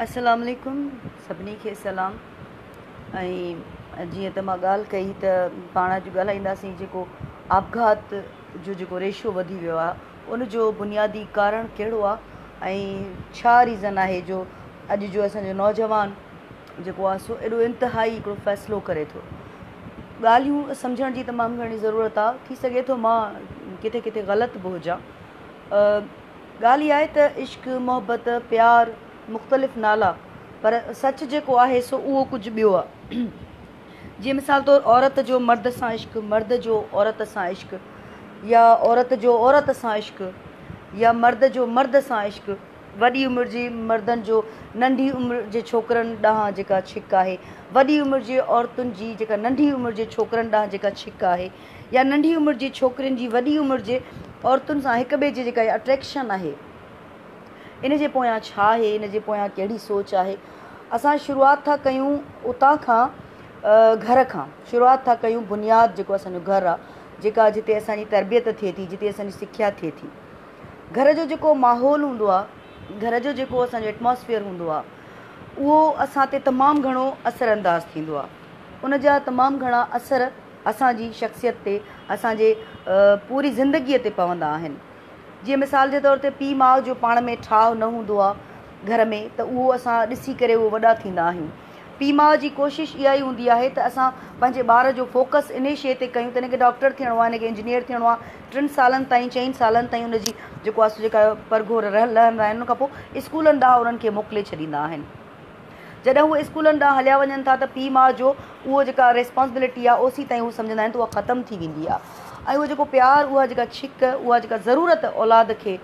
السلام عليڪم سڀني کي سلام ۽ جيئن ته مان ڳالهه ڪئي ته پاڻ اڄ ڳالهائينداسين جيڪو آپگهات جو جيڪو ريشو وڌي ويو آهي ان جو بنيادي ڪارڻ ڪهڙو آهي ۽ ڇا ريزن آهي جو اڄ جو اسانجو نوجوان جيڪو آهي سو ايڏو انتهائي هڪڙو فيصلو ڪري ٿو ڳالهيون سمجهڻ جي تمام گهڻي ضرورت آهي ٿي سگهي ٿو مان ڪٿي ڪٿي غلط به هجان ڳالهه اها آهي ته عشق، محبت، پيار مختلف نالا پر سچ جيڪو آهي سو اهو ڪجهه ٻيو آهي. جيئن مثال طور عورت جو مرد سان عشق، مرد جو عورت سان عشق يا عورت جو عورت سان عشق يا مرد جو مرد سان عشق وڏي عمر جي مردن جو ننڍي عمر جي ڇوڪرن ڏانهن جيڪا ڇڪ آهي، وڏي عمر جي عورتن جي جيڪا ننڍي عمر جي ڇوڪرن ڏانهن جيڪا ڇڪ آهي، يا ننڍي عمر جي ڇوڪرين جي وڏي عمر جي عورتن سان هڪ ٻئي جي جيڪا اها اٽريڪشن آهي ان جي پويان ڇا آهي ان جي پويان ڪهڙي سوچ آهي اسان شروعات ٿا ڪيون اتان کان گهر کان شروعات ٿا ڪيون بنياد جيڪو اسانجو گهر آهي جيڪا جتي اسانجي تربيت ٿئي ٿي جتي اسانجي سکيا ٿئي ٿي گهر جو جيڪو ماحول هوندو آهي گهر جو جيڪو اسانجو ايٽماسفيئر هوندو آهي اهو اسان تي تمام گهڻو اثر انداز ٿيندو آهي ان جا تمام گهڻا اثر اسان جي شخصيت تي، اسان جي پوري زندگيء تي پوندا آهن. جيئن مثال جي طور تي پيء ماء جو پاڻ ۾ ٺاهه نه هوندو آ گهر ۾ ته اهو اسان ڏسي ڪري اهي وڏا ٿيندا آهيون. پيء ماء جي ڪوشش اها ئي هوندي آهي ته اسان پنهنجي ٻار جو فوڪس انهي شيء تي ڪيون ته هن کي ڊاڪٽر ٿيڻو آ، هن کي انجنيئر ٿيڻو آ، ٽن سالن تائين، چئن سالن تائين ان جي جيڪو آ سو جيڪا پرگهور لهندا آهن ان کان پوء اسڪولن ڏانهن انهن کي موڪلي ڇڏيندا آهن. جڏهن هو اسڪولن ڏانهن هليا وڃن ٿا ته پيء ماء جو اهو جيڪا ريسپانسبلٽي آهي اوسين تائين هو سمجهندا آهن ته اها ختم ٿي ويندي آهي ۽ اهو جيڪو پيار اها جيڪا ڇڪ اها جيڪا ضرورت اولاد کي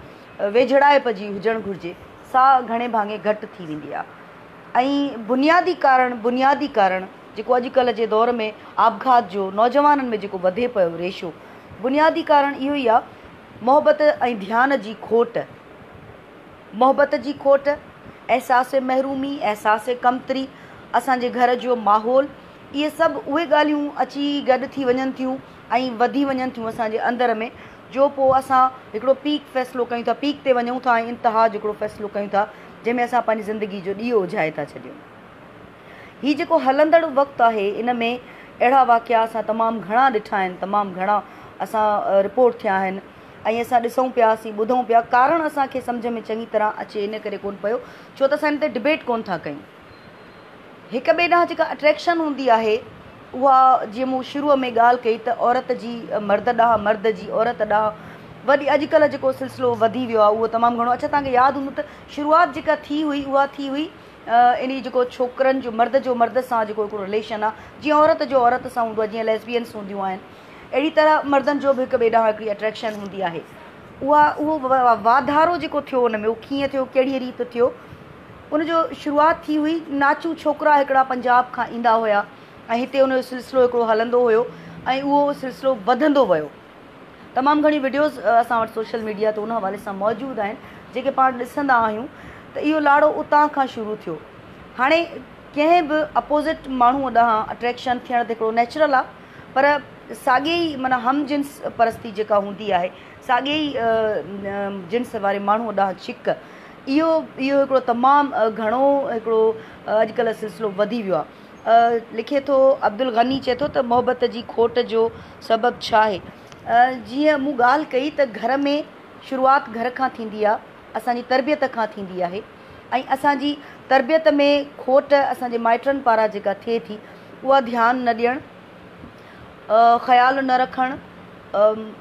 ويجهڙائپ جي هجڻ گهرجي سا گهڻي ڀاڱي گهٽ ٿي ويندي آهي ۽ بنيادي ڪارڻ بنيادي ڪارڻ جيڪو اڄ ڪلهه جي دور ۾ آپگهات جو نوجوانن ۾ جيڪو وڌي پيو ريشو بنيادي ڪارڻ اهو ئي آهي محبت ۽ ڌيان جي کوٽ. محبت جي کوٽ، احساس محرومي، احساس ڪمتري، اسان جي گهر جو ماحول، اهي سڀ اهي ڳالهيون اچي گڏ ٿي وڃن ٿيون ۽ وڌي وڃن ٿيون اسان جي اندر ۾ جو پوء اسان هڪڙو پيڪ فيصلو ڪيون ٿا، پيڪ تي وڃون ٿا ۽ انتها جو هڪڙو فيصلو ڪيون ٿا جنهن ۾ اسان پنهنجي زندگي جو ڏيئو اجهائي ٿا ڇڏيون. هي جيڪو هلندڙ وقت آهي ان ۾ اهڙا واقعا اسان تمام گهڻا ڏٺا آهن، تمام گهڻا اسان رپورٽ ٿيا آهن. ۽ اسان ڏسون پياسين ٻڌون پيا ڪارڻ اسان کي سمجهه ۾ چڱي طرح اچي ان ڪري ڪون پيو ڇو ته اسان ان تي ڊبيٽ ڪون ٿا ڪيون هڪ ٻئي ڏانهن جيڪا اٽريڪشن هوندي آهي اها جيئن مون شروع ۾ ڳالهه ڪئي ته عورت جي مرد ڏانهن مرد جي عورت ڏانهن وڏي اڄڪلهه جيڪو سلسلو وڌي ويو آهي اهو تمام گهڻو اڇا توهان کي ياد هوندو ته شروعات جيڪا ٿي هئي اها ٿي هئي ان جيڪو ڇوڪرن جو مرد جو مرد سان جيڪو هڪڙو رليشن آهي جيئن عورت جو عورت سان هوندو آهي جيئن ليسبينس هونديون آهن اهڙي طرح مردن جو به هڪ ٻئي ڏانهن هڪڙي اٽريڪشن هوندي آهي. اها اهو واڌارو جيڪو ٿيو ان ۾ اهو ڪيئن ٿيو ڪهڙيء ريت ٿيو ان جو شروعات ٿي هئي ناچو ڇوڪرا هڪڙا پنجاب کان ايندا هيا ۽ هتي ان جو سلسلو هڪڙو هلندو هيو ۽ اهو سلسلو وڌندو ويو تمام گهڻي وڊيوز اسان وٽ سوشل ميڊيا تي ان حوالي سان موجود آهن جيڪي پاڻ ڏسندا آهيون ته اهو لاڙو اتان کان شروع ٿيو هاڻي ڪنهن به اپوزٽ ماڻهو ڏانهن اٽريڪشن ٿيڻ ته هڪڙو نيچرل آهي پر ساڳي ئي معنيٰ هم جنس پرستي جيڪا هوندي آهي، ساڳي ئي جنس واري ماڻهوء ڏانهن شڪ، اهو اهو هڪڙو تمام گهڻو هڪڙو اڄڪلهه سلسلو وڌي ويو آهي. لکي ٿو عبدالغني چئي ٿو ته محبت جي کوٽ جو سبب ڇا آهي؟ جيئن مون ڳالهه ڪئي ته گهر ۾ شروعات گهر کان ٿيندي آهي، اسان جي تربيت کان ٿيندي آهي. ۽ اسان جي تربيت ۾ کوٽ اسان جي مائٽن پاران جيڪا ٿئي ٿي اها ڌيان نه ڏيڻ، خيال نه رکڻ،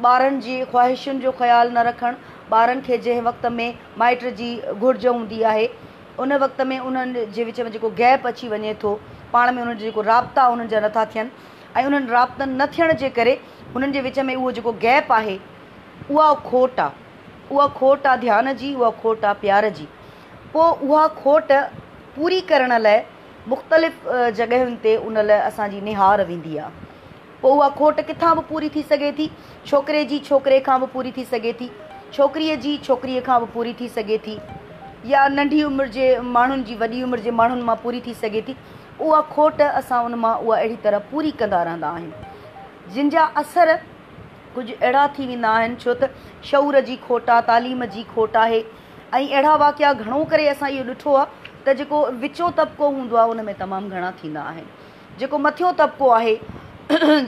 ٻارن جي خواهشن جو خيال نه رکڻ، ٻارن کي جنهن وقت ۾ مائٽ جي گهرج هوندي آهي ان وقت ۾ انهن جي وچ ۾ جيڪو گيپ اچي وڃي ٿو پاڻ ۾ انهن جا جيڪو رابطا انهن جا نٿا ٿين ۽ انهن رابطن نه ٿيڻ جي ڪري انهن جي وچ ۾ اهو جيڪو گيپ آهي اها کوٽ آهي. اها کوٽ آ ڌيان جي، اها کوٽ آ پيار جي. پوء اها کوٽ پوري ڪرڻ لاء مختلف جڳهين تي ان لاء اسان جي نهار ويندي آ. پوء اها کوٽ ڪٿان به پوري ٿي سگهي ٿي. ڇوڪري جي ڇوڪري کان به پوري ٿي سگهي ٿي. ڇوڪريء جي ڇوڪريء کان به پوري ٿي سگهي ٿي. يا ننڍي عمر جي ماڻهن جي وڏي عمر جي ماڻهن مان پوري ٿي سگهي ٿي. اها کوٽ اسان ان مان اها اهڙي طرح پوري ڪندا رهندا آهيون. جن جا اثر ڪجهه اهڙا ٿي ويندا آهن ڇو ته شعور جي کوٽ آ، تعليم جي کوٽ آهي ۽ اهڙا واقعا گهڻو ڪري اسان اهو ڏٺو آ ته جيڪو وچون طبقو هوندو آ ان ۾ تمام گهڻا ٿيندا آهن. جيڪو مٿيون طبقو آهي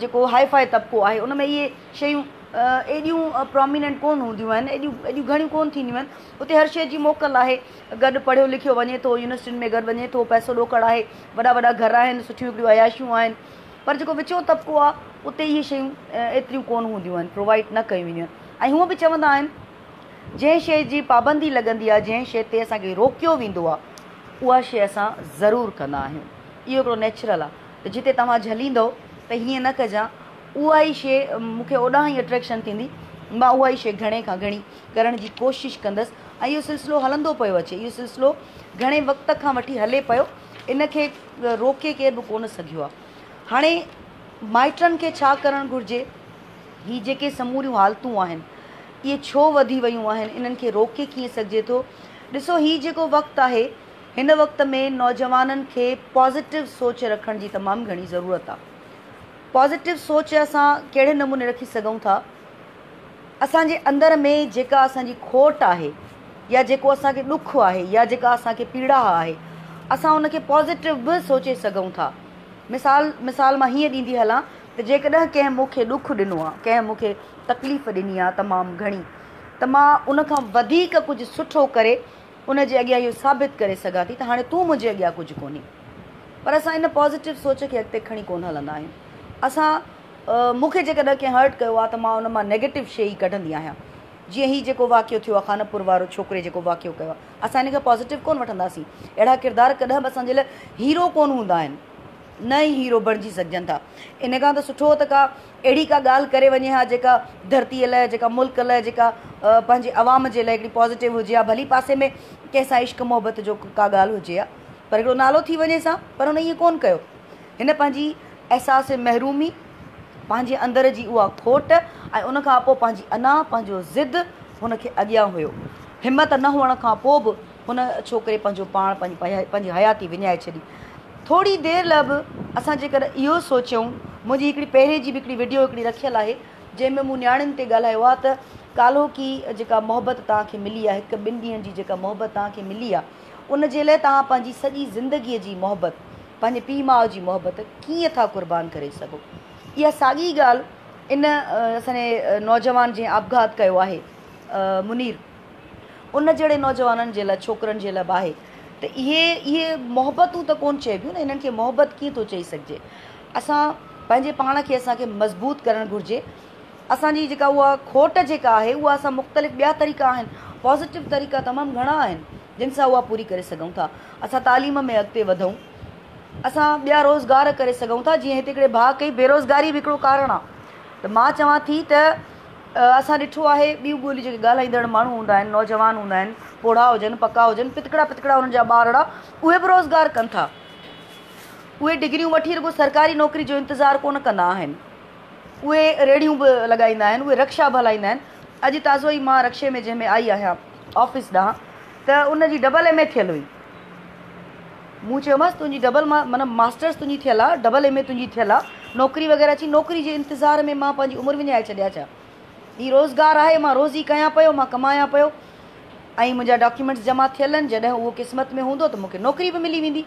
جيڪو هاء فاء طبقو آهي ان ۾ اهي شيون ايڏيون پراميننٽ ڪونه هونديون آهن ايڏيون ايڏيون گهڻيون ڪونه ٿينديون آهن اتي هر شيء جي موڪل آهي گڏ پڙهيو لکيو وڃي ٿو يونيورسٽين ۾ گڏ وڃي ٿو پئسو ڏوڪڙ آهي وڏا وڏا گهر آهن سٺيون هڪڙيون عياشيون آهن. پر جيڪو وچون طبقو آهي اتي اهي شيون ايتريون ڪونه هونديون آهن، پرووائيڊ نه ڪيون وينديون آهن ۽ هونء به چوندا آهن جنهن شيء جي پابندي لڳندي آهي، جنهن شيء تي اسان کي روڪيو ويندو آهي اها شيء اسان ضرور ڪندا آهيون. اهو هڪڙو نيچرل آهي ته جتي توهان جهليندؤ ته هيئن نه ڪجان اها ئي شيء مون کي اوڏانهن ئي اٽريڪشن ٿيندي مان اها ئي شيء گهڻي کان گهڻي ڪرڻ جي ڪوشش ڪندس ۽ اهو سلسلو هلندو پيو اچي اهو سلسلو گهڻي وقت کان وٺي هلي پيو ان کي روڪي ڪير به ڪونه سگهيو آهي. هاڻي مائٽن کي ڇا ڪرڻ گهرجي؟ هي جيڪي سموريون حالتون آهن، اهي ڇو وڌي ويون آهن؟ انهن کي روڪي ڪيئن سگهجي ٿو؟ ڏسو هي جيڪو وقت آهي، هن وقت ۾ نوجوانن کي پازيٽو سوچ رکڻ جي تمام گهڻي ضرورت آهي. پازيٽو سوچ اسان ڪهڙي نموني رکي سگهون ٿا؟ اسان جي اندر ۾ جيڪا اسان جي کوٽ آهي يا جيڪو اسان کي ڏک آهي يا جيڪا اسان کي پيڙاهه آهي اسان ان کي پازيٽو به سوچي سگهون ٿا مثال مثال مان هيئن ڏيندي هلان ته جيڪڏهن ڪنهن مون کي ڏک ڏنو آهي ڪنهن مون کي تڪليف ڏني آهي تمام گهڻي ته مان ان کان وڌيڪ ڪجهه سٺو ڪري ان جي اڳيان اهو ثابت ڪري سگهان ٿي ته هاڻي تون منهنجي اڳيان ڪجهه ڪونهي پر اسان ان پازيٽو سوچ کي اڳتي کڻي ڪونه هلندا آهيون اسان مون کي جيڪڏهن ڪنهن هرٽ ڪيو آ ته مان ان مان نيگيٽو شي ئي ڪڍندي آهيان جيئن هي جيڪو واقعو ٿيو آ خانپور وارو ڇوڪري جيڪو واقعو ڪيو آ اسان ان کي پازيٽو ڪونه وٺنداسين اهڙا ڪردار ڪڏهن به اسان جي لاء هيرو ڪونه هوندا آهن نه ئي هيرو بڻجي سگهجن ٿا ان کان ته سٺو ته ڪا اهڙي ڪا ڳالهه ڪري وڃي ها جيڪا ڌرتي لاء جيڪا ملڪ لاء جيڪا پنهنجي عوام جي لاء هڪڙي پازيٽو هجي ها ڀلي پاسي ۾ ڪنهن سان عشق محبت جو ڪا ڳالهه هجي ها پر هڪڙو نالو ٿي وڃي سان پر هن ائين ڪونه ڪيو هن پنهنجي احساس محرومي، پنهنجي اندر جي اها کوٽ ۽ ان کان پوء پنهنجي انا، پنهنجو ضد هن کي اڳيان هيو. همت نه هئڻ کان پوء به هن ڇوڪري پنهنجو پاڻ، پنهنجي حياتي وڃائي ڇڏي. ٿوري دير لاء به اسان جيڪڏهن اهو سوچيون، منهنجي هڪڙي پهرين جي به هڪڙي وڊيو هڪڙي رکيل آهي، جنهن ۾ مون نياڻين تي ڳالهايو آهي ته ڪالهوڪي جيڪا محبت توهان کي ملي آهي، هڪ ٻن ڏينهن جي جيڪا محبت توهان کي ملي آهي، ان جي لاء توهان پنهنجي سڄي زندگيء جي محبت، پنهنجي پيء ماء جي محبت ڪيئن ٿا قربان ڪري سگهو. اها ساڳي ڳالهه ان اسان جي نوجوان جنهن آپگهات ڪيو آهي منير ان جهڙي نوجوانن جي لاء ڇوڪرن جي لاء به آهي ته اهي اهي محبتون ته ڪون چئبيون نه هنن کي محبت ڪيئن ٿو چئي سگهجي اسان پنهنجي پاڻ کي اسان کي مضبوط ڪرڻ گهرجي اسان جي جيڪا اها کوٽ جيڪا آهي اها اسان مختلف ٻيا طريقا آهن پازيٽو طريقا تمام گهڻا آهن جن سان اها پوري ڪري سگهون ٿا. اسان تعليم ۾ اڳتي وڌون. اسان ٻيا روزگار ڪري سگهون ٿا جيئن هت هڪڙي ڀاء ڪئي بيروزگاري به هڪڙو ڪارڻ آ ته مان چوان ٿي ته اسان ڏٺو آهي ٻيون ٻوليون جيڪي ڳالهائيندڙ ماڻهو هوندا آهن نوجوان هوندا آهن پوڙها هجن پڪا هجن پتڪڙا پتڪڙا انهن جا ٻارڙا اهي به روزگار ڪن ٿا اهي ڊگريون وٺي رڳو سرڪاري نوڪري جو انتظار ڪونه ڪندا آهن اهي ريڙهيون به لڳائيندا آهن اهي رڪشا به هلائيندا آهن اڄ تازو ئي مان رڪشي ۾ جنهن ۾ آئي آهيان آفيس ڏانهن ته ان جي ڊبل ايم اي ٿيل هئي. مون چيومانس تنهنجي ڊبل ما معنيٰ ماسٽرس تنهنجي ٿيل آ، ڊبل ايم اي تنهنجي ٿيل آ، نوڪري وغيره چي نوڪري جي انتظار ۾ مان پنهنجي عمر وڃائي ڇڏيا ڇا؟ هي روزگار آهي، مان روزي ڪيان پيو، مان ڪمايان پيو ۽ منهنجا ڊاڪيومينٽس جمع ٿيل آهن، جڏهن اهو قسمت ۾ هوندو ته مون کي نوڪري به ملي ويندي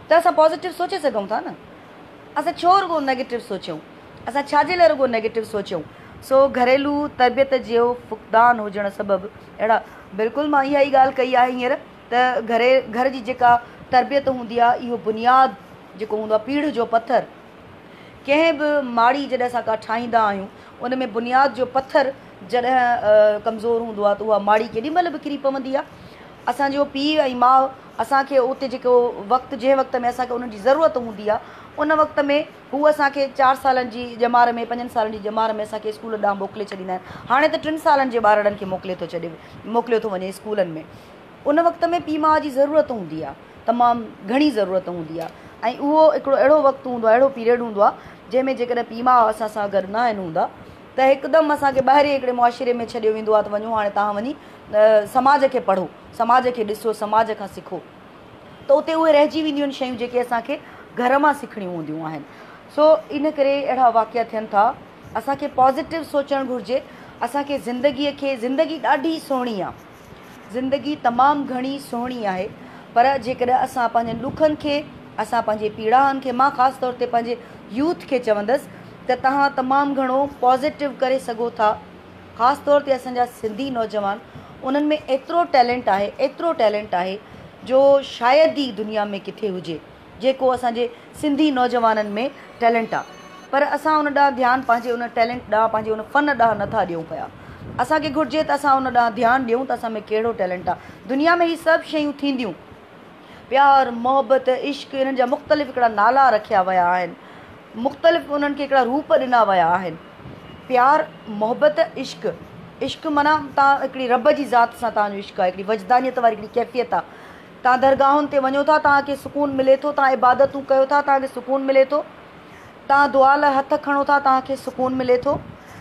ته اسان پازيٽو سوچي سگهون ٿا نه. اسان ڇو رڳو نيگيٽو سوچيون؟ اسان ڇا جي لاء رڳو نيگيٽو سوچيون؟ سو گهريلو تربيت جو فقدان هجڻ سبب اهڙا. بلڪل مان اها ئي ڳالهه ڪئي آهي هينئر ته گهري گهر جي جيڪا تربيت هوندي آهي اهو بنياد جيڪو هوندو آهي پيڙهه جو پٿر ڪنهن به ماڙي جڏهن اسان ڪا ٺاهيندا آهيون ان ۾ بنياد جو پٿر جڏهن ڪمزور هوندو آهي ته اها ماڙي ڪيڏي مهل به ڪري پوندي آهي اسان جو پيء ۽ ماء اسان کي اتي جيڪو وقت جنهن وقت ۾ اسان کي انهن جي ضرورت هوندي آهي ان وقت ۾ هو اسان کي چار سالن جي ڄمار ۾ پنجن سالن جي ڄمار ۾ اسان کي اسڪولن ڏانهن موڪلي ڇڏيندا آهن. هاڻي ته ٽن سالن جي ٻارڙن کي موڪلي ٿو ڇڏي موڪليو ٿو وڃي اسڪولن ۾. ان وقت ۾ پيء ماء جي ضرورت هوندي آهي. تمام گهڻي ضرورت هوندي آهي ۽ اهو هڪڙو اهڙو وقت هوندو آهي اهڙو پيريڊ هوندو آهي جنهن ۾ جيڪڏهن پيء ماء اسان سان گڏ نه آهن هوندا ته هڪدم اسان کي ٻاهرين هڪڙي معاشري ۾ ڇڏيو ويندو آهي ته وڃو هاڻي توهان وڃي سماج کي پڙهو سماج کي ڏسو سماج کان سکو. ته اتي اهي رهجي وينديون آهن شيون جيڪي اسان کي گهر مان سکڻيون هونديون آهن سو ان ڪري اهڙا واقعا ٿين ٿا اسان کي پازيٽو سوچڻ گهرجي اسان کي زندگيء کي زندگي ڏاڍي سهڻي آهي زندگي تمام گهڻي سهڻي آهي پر جيڪڏهن اسان پنهنجن ڏکن کي اسان پنهنجي پيڙاهن کي مان خاص طور تي پنهنجي يوٿ کي چوندس ته تهان تمام گهڻو پازيٽو ڪري سگهو ٿا خاص طور تي اسان جا سنڌي نوجوان انهن ۾ ايترو ٽيلنٽ آهي ايترو ٽيلنٽ آهي جو شايد ئي دنيا ۾ ڪٿي هجي جيڪو اسان جي سنڌي نوجوانن ۾ ٽيلنٽ آ پر اسان ان ڏانهن ڌيان پنهنجي ان ٽيلنٽ ڏانهن پنهنجي ان فن ڏانهن نه ٿا ڏيون پيا اسان کي گهرجي ته اسان ان ڏانهن ڌيان ڏيون ته اسان ۾ ڪهڙو ٽيلنٽ آ دنيا ۾ هي سڀ شيون ٿينديون پيار محبت عشق انهن جا مختلف هڪڙا نالا رکيا ويا آهن مختلف انهن کي هڪڙا روپ ڏنا ويا آهن. پيار، محبت، عشق، عشق معنيٰ تان هڪڙي رب جي ذات سان تان جو عشق آهي، هڪڙي وجدانيت واري هڪڙي ڪيفيت آهي. تان درگاهن تي وڃو ٿا، تان کي سڪون ملي ٿو، تان عبادتون ڪيو ٿا، تان کي سڪون ملي ٿو، تان دعا لاء هٿ کڻو ٿا، تان کي سڪون ملي ٿو.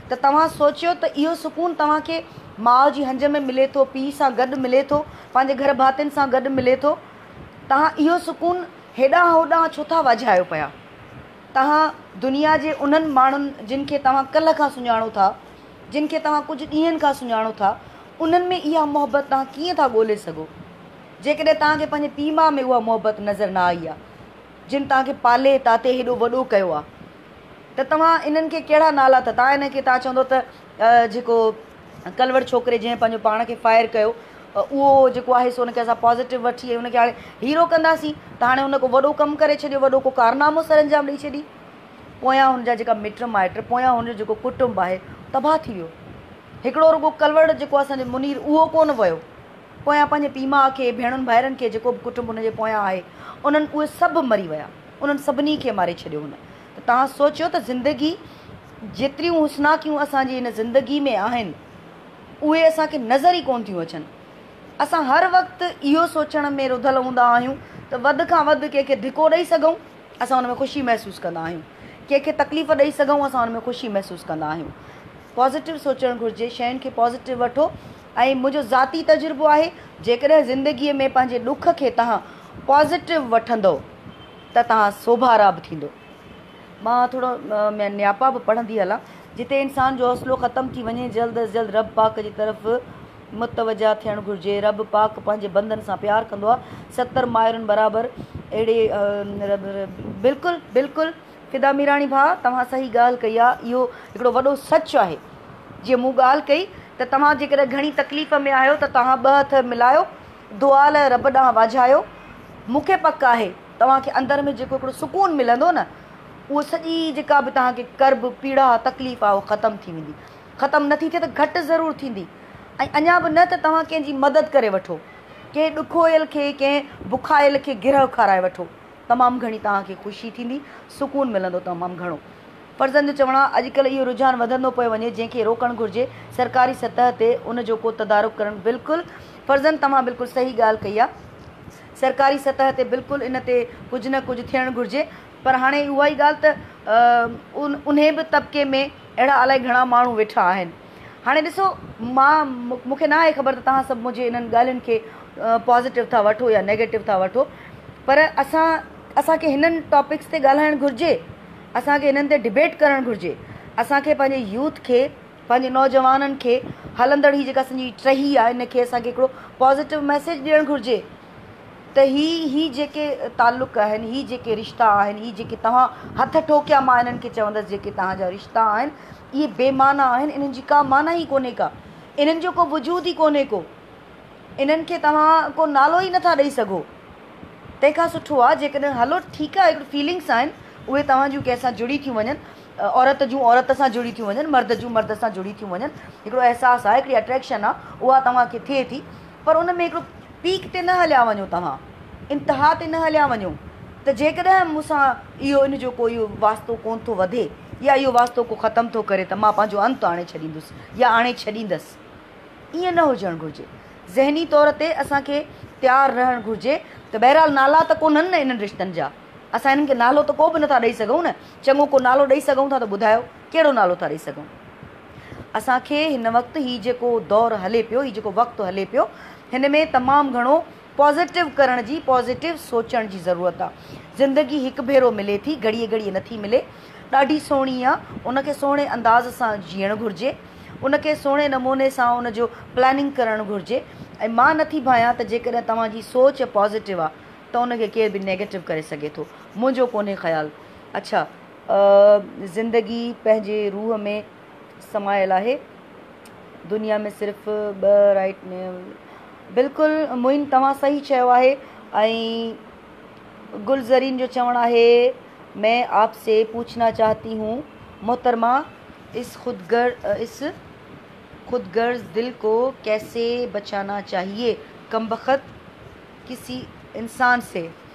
ته توهان سوچيو ته اهو سڪون توهان کي ماء جي هنج ۾ ملي ٿو، پيء سان گڏ ملي ٿو، پنهنجي گهر ڀاتين سان گڏ ملي ٿو، توهان اهو سڪون هيڏانهن هوڏانهن ڇو ٿا واجهايو پيا؟ توهان دنيا جي انهن ماڻهن جن کي توهان ڪلهه کان سڃاڻو ٿا، جن کي توهان ڪجهه ڏينهن کان سڃاڻو ٿا، انهن ۾ اها محبت توهان ڪيئن ٿا ڳولي سگهو؟ جيڪڏهن توهان کي پنهنجي پيء ماء ۾ اها محبت نظر نه آئي آهي، جن توهان کي پالي تاتي هيڏو وڏو ڪيو آهي ته توهان انهن کي ڪهڙا نالا ٿا توهان انهن کي توهان چوندو ته جيڪو ڪلوڙ ڇوڪري جنهن پنهنجو پاڻ کي فائر ڪيو اهو جيڪو آهي سو ان کي اسان پازيٽو وٺي ۽ ان کي هاڻي هيرو ڪنداسين ته هاڻي هن ڪو وڏو ڪم ڪري ڇڏيو وڏو ڪو ڪارنامو سر انجام ڏئي ڇڏي پويان هن جا جيڪا مٽ مائٽ پويان هن جو جيڪو ڪٽنب آهي تباهه ٿي ويو هڪڙو رڳو ڪلوڙ جيڪو اسان جو منير اهو ڪونه ويو پويان پنهنجي پي ماء کي ڀيڻن ڀائرن کي جيڪو به ڪٽنب هن جي پويان آهي انهن اهي سڀ مري ويا انهن سڀني کي ماري ڇڏيو هن ته توهان سوچيو ته زندگي جيتريون حسناڪيون اسان جي هن زندگي ۾ آهن اهي اسان کي نظر ئي ڪونه ٿيون اچن. اسان هر وقت اهو سوچڻ ۾ رڌل هوندا آهيون ته وڌ کان وڌ ڪنهن کي ڌڪو ڏئي سگهون اسان ان ۾ خوشي محسوس ڪندا آهيون، ڪنهن کي تڪليف ڏئي سگهون اسان ان ۾ خوشي محسوس ڪندا آهيون. پازيٽو سوچڻ گهرجي، شين کي پازيٽو وٺو ۽ منهنجو ذاتي تجربو آهي جيڪڏهن زندگي ۾ پنهنجي ڏک کي توهان پازيٽو وٺندؤ، ته توهان سوڀارا به ٿيندو. مان ٿورو ۾ نياپا به پڙهندي هلان جتي انسان جو حوصلو ختم ٿي وڃي جلد از جلد رب پاڪ جي طرف متوجه ٿيڻ گهرجي رب پاڪ پنهنجي بندن سان پيار ڪندو آ ستر مائرن برابر اهڙي بلڪل بلڪل فدا ميراڻي ڀاء توهان صحيح ڳالهه ڪئي آ اهو هڪڙو وڏو سچ آهي جيئن مون ڳالهه ڪئي ته توهان جيڪڏهن گهڻي تڪليف ۾ آهيو ته توهان ٻه هٿ ملايو دعا لئه رب ڏانهن واجهايو. مون کي پڪ آهي توهان کي اندر ۾ جيڪو هڪڙو سڪون ملندو نه اهو سڄي جيڪا به توهان کي ڪرب، پيڙا، تڪليف آهي اهو ختم ٿي ويندي. ختم نه ٿي ٿئي ته گهٽ ضرور ٿيندي ۽ اڃا به نه ته توهان ڪنهن جي مدد ڪري وٺو. ڪنهن ڏکويل کي، ڪنهن بکايل کي گرهه کارائي وٺو. تمام گهڻي توهان کي خوشي ٿيندي، سڪون ملندو تمام گهڻو. فرزن جو چوڻ آهي اڄ ڪلهه اهو رجحان وڌندو پيو وڃي جنهن کي روڪڻ گهرجي سرڪاري سطح تي ان جو ڪو تدارڪ ڪرڻ بلڪل فرزن توهان بلڪل صحيح ڳالهه ڪئي آهي سرڪاري سطح تي بلڪل ان تي ڪجهه نه ڪجهه ٿيڻ گهرجي پر هاڻي اها ئي ڳالهه ته انهي به طبقي ۾ اهڙا الائي گهڻا ماڻهو ويٺا آهن هاڻي ڏسو مان مون کي ناهي خبر ته توهان سڀ منهنجي انهن ڳالهين کي پازيٽو ٿا وٺو يا نيگيٽو ٿا وٺو پر اسان اسان کي هنن ٽاپڪس تي ڳالهائڻ گهرجي اسان کي انهن تي ڊبيٽ ڪرڻ گهرجي. اسان کي پنهنجي يوٿ کي پنهنجي نوجوانن کي هلندڙ هي جيڪا اسنجي ٽهي آهي ان کي اسان کي هڪڙو پازيٽو ميسيج ڏيڻ گهرجي ته هي هي جيڪي تعلق آهن هي جيڪي رشتا آهن هي جيڪي توهان هٿ ٺوڪيا مان انهن کي چوندس جيڪي توهان جا رشتا آهن اهي بي معنيٰ آهن انهن جي ڪا معنيٰ ئي ڪونهي ڪا انهن جو ڪو وجود ئي ڪونهي ڪو. انهن کي توهان ڪو نالو ئي نٿا ڏئي سگهو. تنهن کان سٺو آ جيڪڏهن هلو ٺيڪ آ هڪڙي فيلنگس آهن اهي توهان جون ڪنهن سان جڙي ٿيون وڃن عورت جون عورت سان جڙي ٿيون وڃن مرد جون مرد سان جڙي ٿيون وڃن هڪڙو احساس آ هڪڙي اٽريڪشن آ اها توهان کي ٿئي ٿي پر ان ۾ هڪڙو پيڪ تي نه هليا وڃو توهان انتها تي نه هليا وڃو ته جيڪڏهن مون سان اهو ان جو ڪو اهو واسطو ڪونه ٿو وڌي يا اهو واسطو ڪو ختم ٿو ڪري ته مان پنهنجو انت آڻي ڇڏيندس يا آڻي ڇڏيندس ائين نه هجڻ گهرجي. ذهني طور تي اسان کي تيار رهڻ گهرجي ته بهرحال نالا ته ڪونهن نه انهن رشتن جا. اسان انهن کي نالو ته ڪو به نٿا ڏئي سگهون نه. چڱو ڪو نالو ڏئي سگهون ٿا ته ٻڌايو ڪهڙو نالو ٿا ڏئي سگهون. اسان کي هن وقت هي جيڪو دور هلي پيو، هي جيڪو وقت هلي پيو هن ۾ تمام گهڻو پازيٽو ڪرڻ جي، پازيٽو سوچڻ جي ضرورت آ. زندگي هڪ ڀيرو ملي ٿي، گهڙيء گهڙيء نٿي ملي. ڏاڍي سهڻي آ، ان کي سهڻي انداز سان جيئڻ گهرجي. ان کي سهڻي نموني سان ان جو پلاننگ ڪرڻ گهرجي ۽ مان نٿي ڀانيان ته جيڪڏهن توهان جي سوچ پازيٽو آ ته ان کي ڪير به نيگيٽو ڪري سگهي ٿو. منهنجو ڪونهي خيال. اڇا زندگي پنهنجي روح ۾. سمايل آهي دنيا ۾ صرف ٻه رائيٽ نيول بلڪل معين توهان صحيح چيو آهي ۽ گل زرين جو چوڻ آهي مين آپ سي پوڇنا چاهتي هون محترمه اس خود گر اس خود غرض دل ڪو ڪيسي بچانا چاهيي ڪمبخت ڪسي انسان سي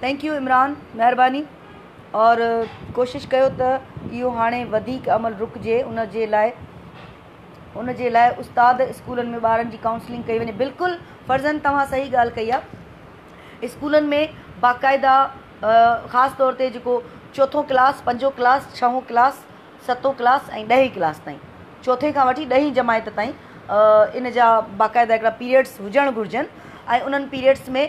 ٿينڪ يو عمران مهرباني اور ڪوشش ڪيو ته اهو هاڻي وڌيڪ عمل رڪجي ان جي لاء ان جي لاء استاد اسڪولن ۾ ٻارن جي ڪائونسلنگ ڪئي وڃي بلڪل فرزن توهان صحيح ڳالهه ڪئي آ اسڪولن ۾ باقاعده خاص طور تي جيڪو چوٿون ڪلاس پنجو ڪلاس ڇهون ڪلاس ستون ڪلاس ۽ ڏهين ڪلاس تائين چوٿين کان وٺي ڏهين جماعت تائين ان جا باقاعده هڪڙا پيريئڊس هجڻ گهرجن ۽ انهن پيريئڊس ۾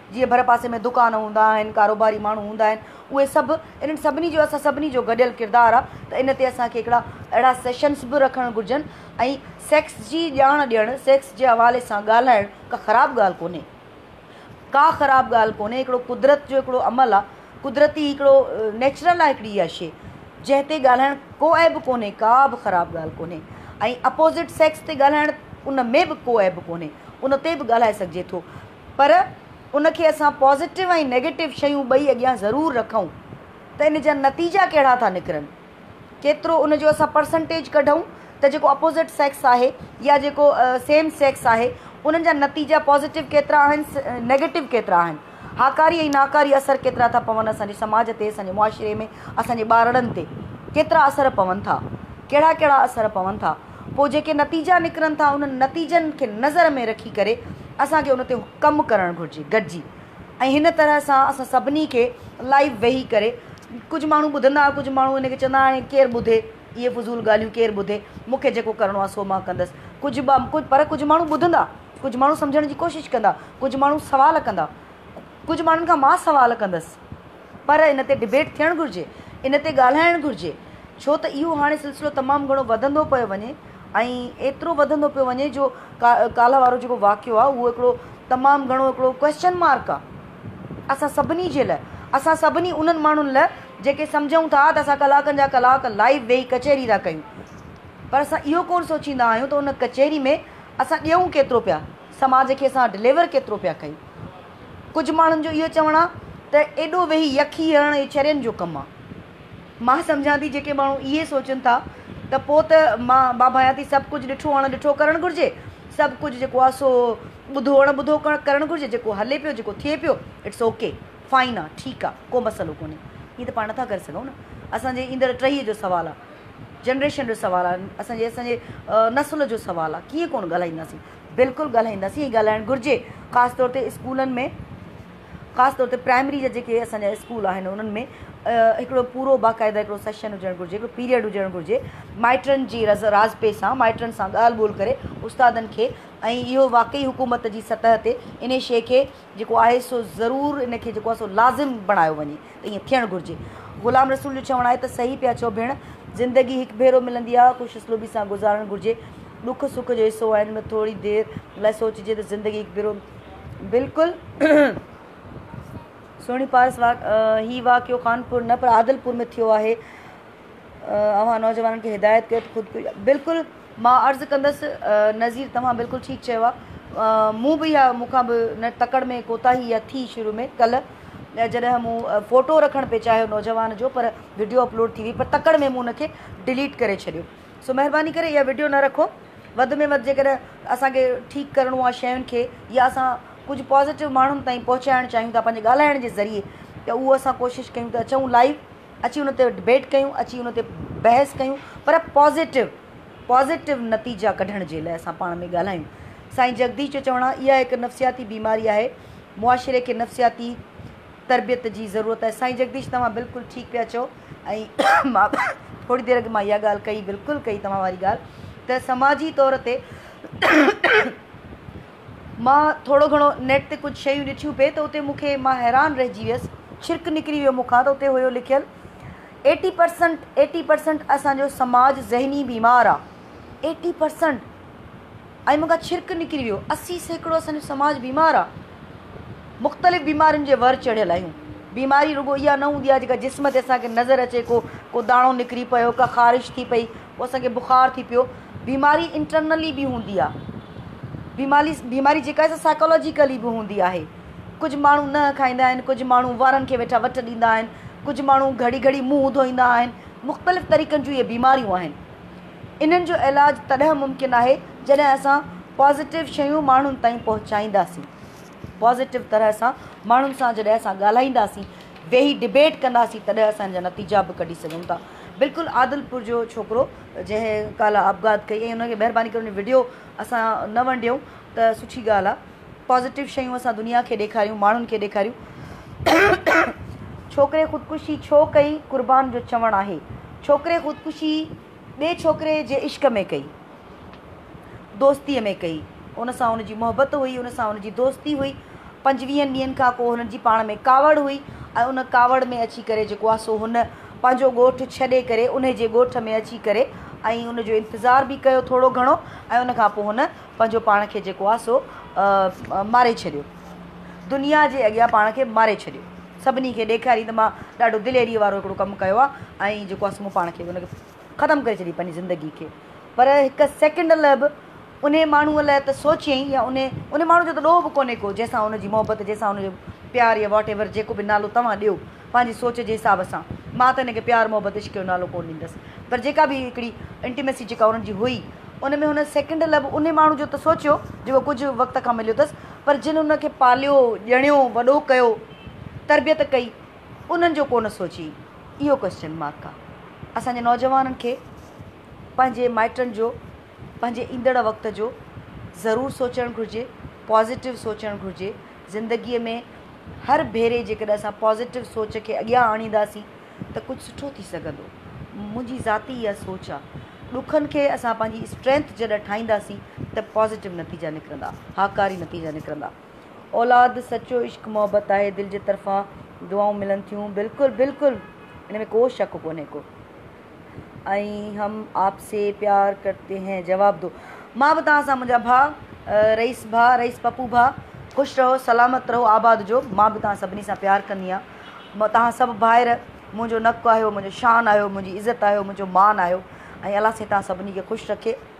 جيئن ڀرپاسي ۾ دڪان هوندا آهن، ڪاروباري ماڻهو هوندا آهن، اهي سڀ انهن سڀني جو اسان سڀني جو گڏيل ڪردار آ ته ان تي اسان کي هڪڙا اهڙا سيشنز به رکڻ گهرجن ۽ سيڪس جي ڄاڻ ڏيڻ، سيڪس جي حوالي سان ڳالهائڻ ڪا خراب ڳالهه ڪونهي، ڪا خراب ڳالهه ڪونهي، هڪڙو قدرت جو هڪڙو عمل آ، قدرتي هڪڙو نيچرل آ هڪڙي اها شي جنهن تي ڳالهائڻ ڪو عيب ڪونهي، ڪا به خراب ڳالهه ڪونهي ۽ اپوزٽ سيڪس تي ڳالهائڻ ان ۾ به ڪو عيب ڪونهي، ان تي به ڳالهائي سگهجي ٿو. پر ان کي اسان پازيٽو ۽ نيگيٽو شيون ٻئي اڳيان ضرور رکون ته ان جا نتيجا ڪهڙا ٿا نڪرن. ڪيترو ان جو اسان پرسنٽيج ڪڍون ته جيڪو اپوزٽ سيڪس آهي يا جيڪو سيم سيڪس آهي انهن جا نتيجا پازيٽو ڪيترا آهن نيگيٽو ڪيترا آهن. هاڪاري ۽ ناڪاري اثر ڪيترا ٿا پون اسان جي سماج تي اسان جي معاشري ۾ اسان جي ٻارڙن تي ڪيترا اثر پون ٿا ڪهڙا ڪهڙا اثر پون ٿا. پوء جيڪي نتيجا نڪرن ٿا انهن نتيجن کي نظر ۾ رکي ڪري اسان کي ان تي ڪم ڪرڻ گهرجي گڏجي ۽ هن طرح سان اسان سڀني کي لائيو ويهي ڪري ڪجهه ماڻهو ٻڌندا ڪجهه ماڻهو ان کي چوندا هاڻي ڪير ٻڌي اهي فضول ڳالهيون ڪير ٻڌي مون کي جيڪو ڪرڻو آهي سو مان ڪندس ڪجهه ٻا پر ڪجهه ماڻهو ٻڌندا ڪجهه ماڻهو سمجهڻ جي ڪوشش ڪندا ڪجهه ماڻهو سوال ڪندا ڪجهه ماڻهن کان مان سوال ڪندس. پر ان تي ڊبيٽ ٿيڻ گهرجي، ان تي ڳالهائڻ گهرجي، ڇو ته اهو هاڻي سلسلو تمام گهڻو وڌندو پيو وڃي ۽ ايترو وڌندو پيو وڃي جو ڪالهه وارو جيڪو واقعو آهي اهو هڪڙو تمام گهڻو هڪڙو ڪوئسچن مارڪ آهي اسان سڀني جي لاء، اسان سڀني انهن ماڻهن لاء جيڪي سمجهون ٿا ته اسان ڪلاڪن جا ڪلاڪ لائيو ويهي ڪچهري ٿا ڪيون پر اسان اهو ڪونه سوچيندا آهيون ته ان ڪچهري ۾ اسان ڏيئون ڪيترو پيا، سماج کي اسان ڊليور ڪيترو پيا ڪيون. ڪجهه ماڻهن جو اهو چوڻ آهي ته ايڏو ويهي يخي هڻڻ اهي چرين جو ڪم آهي. مان سمجهان ٿي جيڪي ماڻهو اهي سوچن ٿا ته پوء ته مان ڀانڀايان ٿي سڀ ڪجهه ڏٺو اڻ ڏٺو ڪرڻ گهرجي، سڀ ڪجهه جيڪو آهي سو ٻڌو اڻ ٻڌو ڪرڻ گهرجي، جيڪو هلي پيو جيڪو ٿئي پيو اٽس او ڪي، فائن آهي، ٺيڪ آهي، ڪو مسئلو ڪونهي. ائين ته پاڻ نٿا ڪري سگهون نه. اسان جي ايندڙ ٽهيء جو سوال آهي، جنريشن جو سوال آهي، اسان جي اسان جي نسل جو سوال آهي، ڪيئن ڪونه ڳالهائينداسين. بلڪل ڳالهائينداسين ۽ ڳالهائڻ گهرجي خاص طور تي اسڪولن ۾ خاص طور تي پرائمري جا جيڪي اسان جا اسڪول آهن انهن ۾ هڪڙو پورو باقاعده هڪڙو سيشن هجڻ گهرجي هڪڙو پيريڊ هجڻ گهرجي مائٽن جي رز رازپي سان مائٽن سان ڳالهه ٻولهه ڪري استادن کي ۽ اهو واقعي حڪومت جي سطح تي انهي شيء کي جيڪو آهي سو ضرور ان کي جيڪو آهي سو لازم بڻايو وڃي ته ائين ٿيڻ گهرجي. غلام رسول جو چوڻ آهي ته صحيح پيا چئو ڀيڻ، زندگي هڪ ڀيرو ملندي آهي خوش اسلوبي سان گذارڻ گهرجي. ڏک سک جو حصو آهن ته ٿوري دير لاء سوچجي ته زندگي هڪ ڀيرو بلڪل سهڻي پارس واقع هي واقعو خانپور نه پر عادلپور ۾ ٿيو آهي. اوهان نوجوانن کي هدايت ڪيو ته خود بلڪل مان عرض ڪندس نظير توهان بلڪل ٺيڪ چيو آهي مون به اها مون کان به نه تڪڙ ۾ ڪوتاهي اها ٿي شروع ۾ ڪلهه جڏهن مون فوٽو رکڻ پئي چاهيو نوجوان جو پر وڊيو اپلوڊ ٿي وئي پر تڪڙ ۾ مون انکي ڊليٽ ڪري ڇڏيو سو مهرباني ڪري اها وڊيو نه رکو وڌ ۾ وڌ جيڪڏهن اسانکي ٺيڪ ڪرڻو آهي شين کي يا اسان ڪجهه پازيٽو ماڻهن تائين پهچائڻ چاهيون ٿا پنهنجي ڳالهائڻ جي ذريعي ته اهو اسان ڪوشش ڪيون ته اچون لائيو اچي ان تي ڊبيٽ ڪيون اچي ان تي بحث ڪيون پر پازيٽو پازيٽو نتيجا ڪڍڻ جي لاء اسان پاڻ ۾ ڳالهايون سائين جگديش جو چوڻ آهي اها هڪ نفسياتي بيماري آهي معاشري کي نفسياتي تربيت جي ضرورت آهي سائين جگديش توهان بلڪل ٺيڪ پيا چئو ۽ مان ٿوري دير اڳ مان اها ڳالهه ڪئي بلڪل ڪئي توهان واري ڳالهه ته سماجي طور تي مان ٿورو گهڻو نيٽ تي ڪجهه شيون ڏٺيون پي ته اتي مون کي مان حيران رهجي ويس ڇرڪ نڪري ويو مون کان ته اتي هيو لکيل ايٽي پرسنٽ ايٽي پرسنٽ اسان جو سماج ذهني بيمار آ ايٽي پرسنٽ ۽ مون کان ڇرڪ نڪري ويو اسي سيڪڙو اسان جو سماج بيمار آ مختلف بيمارين جي ور چڙهيل آهيون بيماري رڳو اها نه هوندي آ جيڪا جسم تي اسان کي نظر اچي ڪو ڪو داڻو نڪري پيو ڪا خارش ٿي پئي پوء اسان کي بخار ٿي پيو. بيماري انٽرنلي به هوندي آهي. بيماري بيماري جيڪا آهي سا سائيڪالاجيڪلي به هوندي آهي. ڪجهه ماڻهو نهن کائيندا آهن، ڪجهه ماڻهو وارن کي ويٺا وٽ ڏيندا آهن، ڪجهه ماڻهو گهڙي گهڙي منهن ڌوئيندا آهن، مختلف طريقن جون اهي بيماريون آهن. انهن جو علاج تڏهن ممڪن آهي جڏهن اسان پازيٽو شيون ماڻهن تائين پهچائينداسين. پازيٽو طرح سان ماڻهن سان جڏهن اسان ڳالهائينداسين ويهي ڊبيٽ ڪنداسين تڏهن اسان ان جا نتيجا به ڪڍي سگهون ٿا بلڪل عادلپور جو ڇوڪرو جنهن ڪالهه آپگهات ڪئي ۽ ان کي مهرباني ڪري ان وڊيو اسان نه ونڊيون ته سٺي ڳالهه آهي پازيٽو شيون اسان دنيا کي ڏيکاريون ماڻهن کي ڏيکاريون ڇوڪري خودڪشي ڇو ڪئي قربان جو چوڻ آهي ڇوڪري خودڪشي ٻئي ڇوڪري جي عشق ۾ ڪئي دوستيء ۾ ڪئي. ان سان هن جي محبت هئي، هن سان هن جي دوستي هئي. پنجويهن ڏينهن کان ڪو هنن جي پاڻ ۾ ڪاوڙ هئي ۽ ان ڪاوڙ ۾ اچي ڪري جيڪو آ سو هن پنهنجو ڳوٺ ڇڏي ڪري انهي جي ڳوٺ ۾ اچي ڪري ۽ ان جو انتظار به ڪيو ٿورو گهڻو ۽ ان کان پوء هن پنهنجو پاڻ کي جيڪو آ سو ماري ڇڏيو. دنيا جي اڳيان پاڻ کي ماري ڇڏيو. سڀني کي ڏيکاريائين ته مان ڏاڍو دليريء وارو هڪڙو ڪم ڪيو آ ۽ جيڪو آ سو مون پاڻ کي ان کي. ختم ڪري ڇڏي پنهنجي زندگي کي پر هڪ سيڪنڊ لاء به انهي ماڻهوء لاء ته سوچيئي يا انهي انهي ماڻهوء جو ته ڏوهه به ڪونهي ڪو جنهن سان ان جي محبت جنهن سان ان جو پيار يا واٽ ايور جيڪو به نالو توهان ڏيو پنهنجي سوچ جي حساب سان مان ته ان کي پيار محبت عشق جو نالو ڪونه ڏيندس پر جيڪا به هڪڙي انٽيميسي جيڪا انهن جي هئي ان ۾ هن سيڪنڊ لاء به انهي ماڻهوء جو ته سوچيو جيڪو ڪجهه وقت کان مليو اٿس پر جن ان کي پاليو ڄڻيو وڏو ڪيو تربيت ڪئي انهن جو ڪونه سوچيئي. اهو ڪوئسچن مارڪ آ اسان جي نوجوانن کي پنهنجي مائٽن جو پنهنجي ايندڙ وقت جو ضرور سوچڻ گهرجي پازيٽو سوچڻ گهرجي زندگي ۾ هر ڀيري جيڪڏهن اسان پازيٽو سوچ کي اڳيان آڻينداسين ته ڪجهه سٺو ٿي سگهندو منهنجي ذاتي اها سوچ آ ڏکن کي اسان پنهنجي اسٽرينٿ جڏهن ٺاهينداسين ته پازيٽو نتيجا نڪرندا هاڪاري نتيجا نڪرندا. اولاد سچو عشق محبت آهي دل جي طرفان دعائون ملن ٿيون بلڪل بلڪل ان ۾ ڪو شڪ ڪونهي ڪو ۽ هم آپ سي پيار ڪرتي هين جواب دو مان به توهان سان منهنجا ڀا رئيس ڀا رئيس پپو ڀا خوش رهو سلامت رهو آباد جو مان به توهان سڀني سان پيار ڪندي آهيان مان توهان سڀ ڀائر منهنجو نڪ آهيو منهنجو شان آهيو منهنجي عزت آهيو منهنجو مان آهيو ۽ الله سائين توهان سڀني کي خوش رکي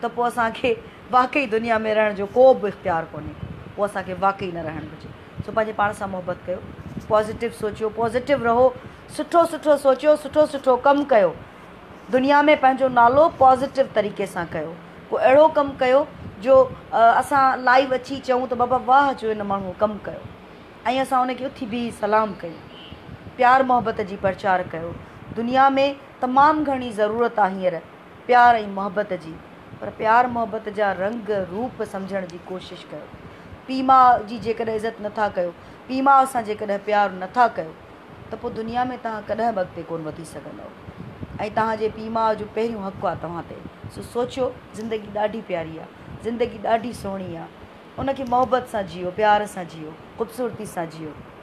ته پوء اسان کي واقعي دنيا ۾ رهڻ جو ڪو به اختيار ڪونهي، پوء اسان کي واقعي نه رهڻ گهرجي. سو پنهنجي پاڻ سان محبت ڪيو، پازيٽو سوچيو، پازيٽو رهو، سٺو سٺو سوچيو، سٺو سٺو ڪم ڪيو، دنيا ۾ پنهنجو نالو پازيٽو طريقي سان ڪيو، ڪو اهڙو ڪم ڪيو جو اسان لائيو اچي چئون ته بابا واهه جو ان ماڻهوء ڪم ڪيو ۽ اسان ان کي اٿي بيهي سلام ڪيون. پيار محبت جي پرچار ڪيو، دنيا ۾ تمام گهڻي ضرورت آ هينئر. پيار ۽ محبت جي پر پيار محبت جا رنگ روپ سمجهڻ جي ڪوشش ڪيو. پيء ماء جي جيڪڏهن عزت نه ٿا ڪيو، پيء ماء سان جيڪڏهن پيار نه ٿا ڪيو ته پوء دنيا ۾ توهان ڪڏهن به اڳتي ڪونه وڌي سگهندؤ ۽ توهان جي پيء ماء جو پهريون حق آهي توهان تي سو سوچيو زندگي ڏاڍي پياري آهي، زندگي ڏاڍي سهڻي آهي ان کي محبت سان جيئو، پيار سان جيئو، خوبصورتي سان جيئو.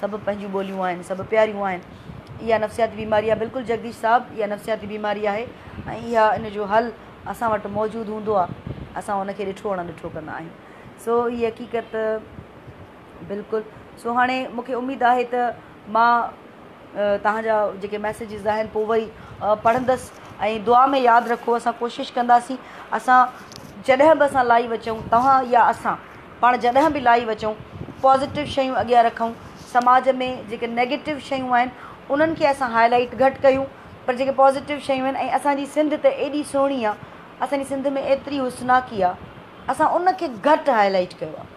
سڀ پنهنجيون ٻوليون آهن، سڀ پياريون آهن. اها نفسياتي بيماري آهي بلڪل جڳديش صاحب اها نفسياتي بيماري آهي ۽ اها ان جو حل اسان وٽ موجود هوندو آهي اسان ان کي ڏٺو اڻ ڏٺو ڪندا آهيون سو هي حقيقت بلڪل سو هاڻي مون کي اميد آهي ته مان توهان جا جيڪي ميسيجز آهن پوء وئي پڙهندس ۽ دعا ۾ ياد رکو اسان ڪوشش ڪنداسين اسان جڏهن به اسان لائيو اچون توهان يا اسان پاڻ جڏهن به لائيو اچون پازيٽو شيون اڳيان رکون سماج ۾ جيڪي نيگيٽو شيون آهن انهن کي اسان هاء لائيٽ گهٽ ڪيون پر جيڪي پازيٽو شيون آهن ۽ اسان جي سنڌ ته ايڏي سهڻي آهي اسان جي سنڌ ۾ ايتري حسناڪي آهي اسان ان کي گهٽ هاء لائيٽ ڪيو آهي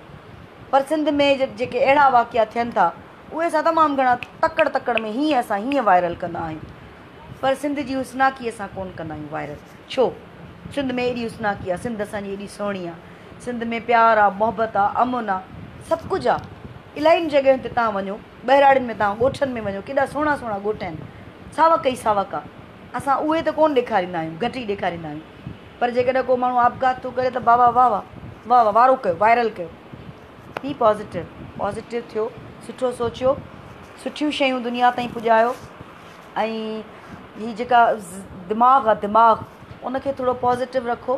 پر سنڌ ۾ جيڪي اهڙا واقعا ٿين ٿا اهي اسان تمام گهڻا تڪڙ تڪڙ ۾ هيئن اسان هيئن وائرل ڪندا آهيون پر سنڌ جي حسناڪي اسان ڪون ڪندا آهيون وائرل ڇو سنڌ ۾ ايڏي حسناڪي آهي سنڌ اسان جي ايڏي سهڻي آهي سنڌ ۾ پيار آ، محبت آ، امن آ، سڀ ڪجهه آ. الاهين جڳهين تي تان وڃو، ٻهراڙين ۾ تان ڳوٺن ۾ وڃو ڪيڏا سهڻا سهڻا ڳوٺ آهن. ساوڪ ئي ساوڪ آ. اسان اهي ته ڪونه ڏيکاريندا آهيون، گهٽ ئي ڏيکاريندا آهيون. پر جيڪڏهن ڪو ماڻهو آپگهات ٿو ڪري ته بابا واهه واهه، واهه واهه، وارو ڪيو، وائرل ڪيو. بي پازيٽو، پازيٽو ٿيو، سٺو سوچيو، سٺيون شيون دنيا تائين پڄايو ۽ هي جيڪا دماغ آ دماغ ان کي ٿورو پازيٽو رکو.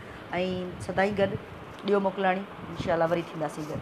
۽ سدائين گڏ ڏيو موڪلاڻي انشاء الله وري ٿينداسين گڏ.